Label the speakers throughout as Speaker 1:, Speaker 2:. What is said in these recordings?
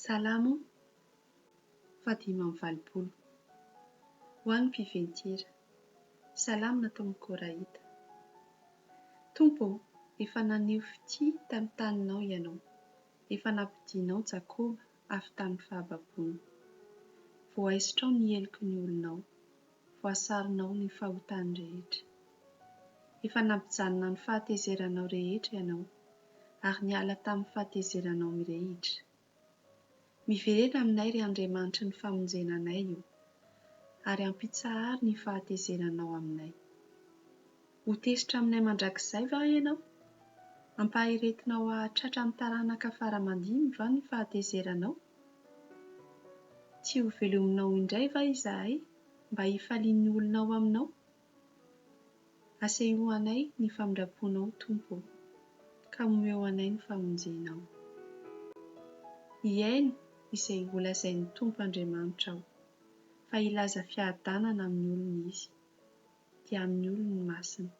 Speaker 1: Salamo fahadimy amby valopolo. Ho an'ny mpiventy-hira. Salamo nataon'ny Koraita. Tompo ô, efa naneho fitia tamin'ny taninao Ianao, efa nampodianao Jakoba avy tamin'ny fahababoany. Voaisitrao ny heloky ny olonao. voasaronao ny fahotany rehetra. Efa nampijanona ny fahatezeranao rehetra ianao, ary niala tamin'ny fahatezeranao mirehitra. Miverena aminay ry Andriamanitry ny famonjena anay o, ary ampitsaharo ny fahatezeranao aminay. Ho tezitra aminay mandrakizay va ianao? Ampaharetinao hahatratra ny taranaka fara aman-dimy va ny fahatezeranao? Tsy ho velominao indray va izahay mba hifalian'ny olona ao aminao? Asehoy anay ny famindram-ponao, Tompo ô, ka omeo anay ny famonjenao. Hihaino izay holazain'ny Tompo Andriamanitra aho, fa hilaza fiadanana amin'ny olony Izy. dia amin'ny olony masina,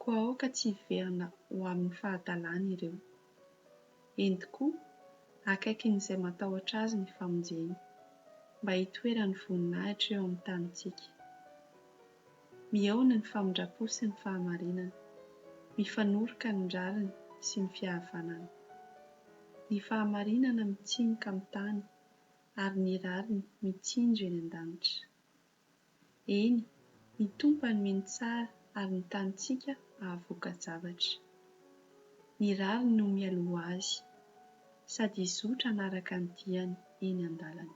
Speaker 1: koa aoka tsy hiverina ho amin'ny fahadalany ireo. Eny tokoa, akaikin'izay matahotra Azy ny famonjeny, mba hitoeran'ny voninahitra eo amin'ny tanintsika. Mihaona ny famindram-po sy ny fahamarinana, mifanoroka ny rariny sy ny fihavanana. Ny fahamarinana mitsimoka amin'ny tany, ary ny rariny mitsinjo eny an-danitra. Eny, ny Tompo hanome ny tsara ary ny tanintsika hahavoka-javatra. Ny rariny no mialoha azy, sady hizotra hanaraka ny diany eny an-dalana.